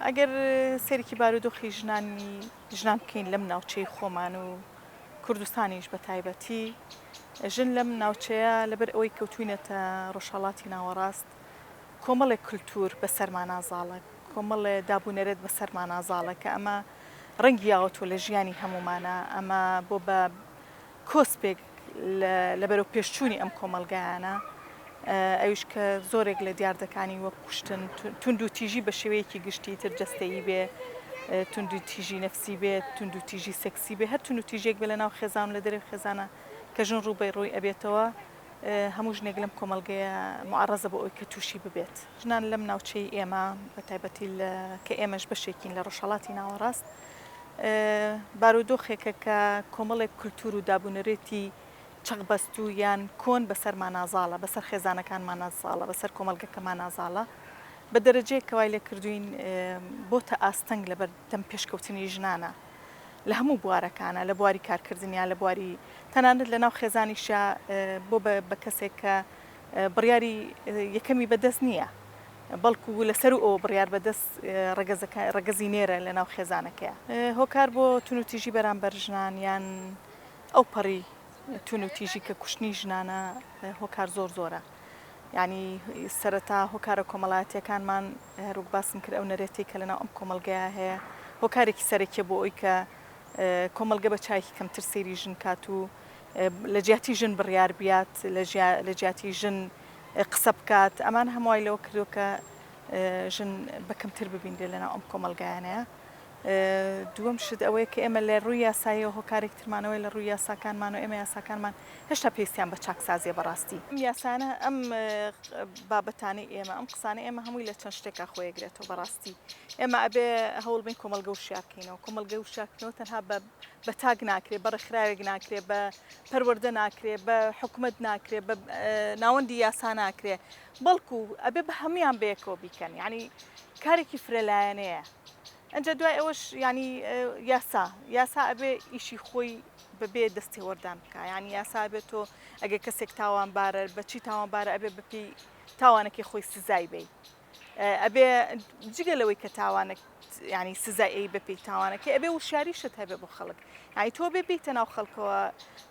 ئەگەر سەیرێکی بارودۆخی ژنانی ژنان بکەین لەم ناوچەی خۆمان و کوردستانیش بە تایبەتی ژن لەم ناوچەیە لەبەر ئەوەی کەوتوینەتە ڕۆژهەڵاتی ناوەڕاست کۆمەڵێک کللتور بە سەرمانازاڵە کۆمەڵێ دابونەرێت بە سەرمانازاڵە کە ئەمە ڕەنگی یاوەتۆ لە ژیانی هەمومانە ئەمە بۆ بە کۆسپێک لە بەرەوپێشچوونی ئەم کۆمەڵگایانە، ئەویش کە زۆرێک لە دیاردەکانی وەک کوشتن، توندوتیژی بە شێوەیەکی گشتی، تر جەستەیی بێ، توندوتیژی نەفسی بێ، توندوتیژی سێکسی بێ، هەر توندوتیژییەک بێ لەناو خێزان و لە دەرەوەی خێزانە کە ژن ڕووبەڕووی ئەبێتەوە، هەموو ژنێک لەم کۆمەڵگەیە موعەڕەزە بۆ ئەوەی کە تووشی ببێت. ژنان لەم ناوچەی ئێمە، بە تایبەتی کە ئێمەش بەشێکین لە ڕۆژهەڵاتی ناوەڕاست، بارودۆخێکە کە کۆمەڵێک کولتوور و دابونەرێتی چەقبەستوو یان کۆن بەسەرمان نازاڵە بەسەر خێزانەکانمان نازاڵە بەسەر کۆمەلگەکەمان نازاڵە بە دەرەجەیە کەوای لێ کردوین بۆتە ئاستەنگ لەبەر دەم پێشکەوتنی ژنانە لە هەموو بوارەکانە لە بواری کارکردنیا لە بواری تەنانەت لە ناو خێزانیشە بۆ بە کەسێک کە بڕیاری یەکەمی بەدەست نییە بەڵکو لەسەروو ئەوە بڕیار بەدەست ڕەگەزەکە، ڕەگەزی نێرە لەناو خێزانەکەیە هۆکار بۆ توندوتیژی بەرامبەر ژنان یان ئەوپەڕی توندوتیژی کە کوشتنی ژنانە هۆکار زۆر زۆرە یعنی سەرەتا هۆکارە کۆمەڵایەتیەکانمان هەروک باسم کرد ئەو نەرێتی کە لەناو ئەم کۆمەلگەیە هەیە هۆکارێکی سەرەکیە بۆ ئەوی کە کۆمەلگە بە چایکی کەمتر سەیری ژن کات و لە جیاتی ژن بڕیار بیات لە جیاتی ژن قسە بکات ئەمان هەموو وای لەوە کردووە کە ژن بەکەمتر ببینرێ لەناو ئەم کۆمەلگایانەیە دووەم شت ئەوەیە کە ئێمە لە ڕووی یاسایی هۆکارێک ترمانەوەی لە ڕووی یاساکانمان و ئێمە یاساکانمان هێشتا پێویستیان بە چاکسازیە بەڕاستی ئەم یاسانە ئەم بابەتانی ئێمە ئەم قسانە ئێمە هەمووی لە چەند شتێکا خۆیەگرێتەوە بەڕاستی ئێمە ئەبێ هەوڵبین کۆمەلگە و شارکەینەوە کۆمەلگە و شارکردنەوە تەنها بە بە تاک ناکرێ بە ڕێکخراوێک ناکرێ بە پەروەردە ناکرێ بە حکومت ناکرێ بە ناوەندی یاسا ناکرێ بەڵکو ئەبێ بە هەموان بەیەکەوە بیکەن ینی کارێکی فرەلایەنەیە ئەجا دوای ئەوەش ینی یاسا یاسا ئەبێ ئیشی خۆی بەبێ دەستێوەردان بکە ینی یاسا بێت تۆ ئەگە کەسێک تاوانبارە بەچی تاوانبارە ئەبێ بپی تاوانەکەی خۆی سزای بیت ئەبێ جگە لەوەی کە تاوانەک ینی سزای ئەی بەپی تاوانەکەی ئەبێ وشاریشت هەبێ بۆ خەڵک ینی تۆ بێ بیتە ناو خەڵکەوە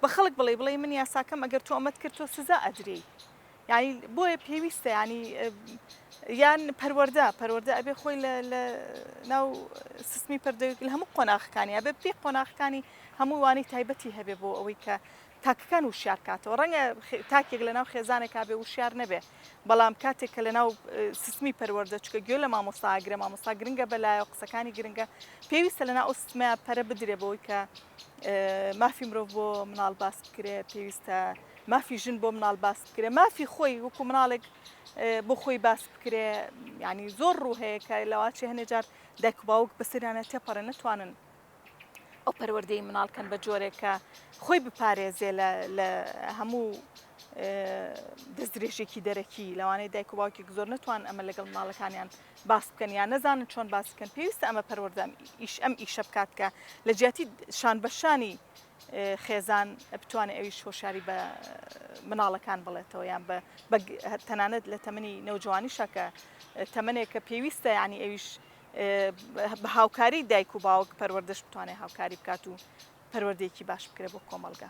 بە خەڵک بڵێ بڵێ من یاساکەم ئەگەر تۆ ئەمەد کرد تۆ سزا ئەدرێ ینی بۆیە پێویستە ینی یان پەروەەردە پەروەەردە ئەبێ خۆی لە ناو سیستمی پەردەویگل هەموو قۆناخەکانی ئەبێ پێ قۆناخەکانی هەمووانی تایبەتی هەبێ بۆ ئەوەی کە تاکەکان وشیار بکاتەوە ڕەنگە تاکێک لەناو خێزانێکا بێ وشیار نەبێ بەڵام کاتێک کە لەناو سیستمی پەروەردە چکە گوێ لە مامۆستا ئاگرە مامۆستا گرنگە بەلایە و قسەکانی گرنگە پێویستە لەنا ئەو سمە پەرە بدرێ بەوەی کە مافی مرۆڤ بۆ مناڵ باس بکرێ پێویستە مافی ژن بۆ مناڵ باس بکرێ مافی خۆی وەکو مناڵێک بۆ خۆی باس بکرێ ینی زۆر ڕوو هەیە کە لەواچی هەنێ جار دایک باوک بەسەریانە تێپەڕێ نتوانن ئەو پەروەردەی مناڵ کەن بە جۆرێک کە خۆی بپارێزێ لە هەموو دەست درێژێکی دەرەکی لەوانەیە دایک و باوکێک زۆر نتوان ئەمە لەگەڵ ماڵەکانیان باس بکەن یان نەزانن چۆن باس بکەن پێویستە ئەمە پەروەردەم ئیش ئەم ئیشە بکات کە لە جیاتی شان بەشانی خێزان بتوانێت ئەویش هۆشاری بە مناڵەکان بڵێتەوە یان تەنانەت لە تەمەنی نەوجوانی شەکە تەمنێک کە پێویستە ینی ئەویش بە هاوکاری دایک و باوک پەروەردەش بتوانێت هاوکاری بکات و پەروەردەیەکی باش بکرێت بۆ کۆمەڵگە.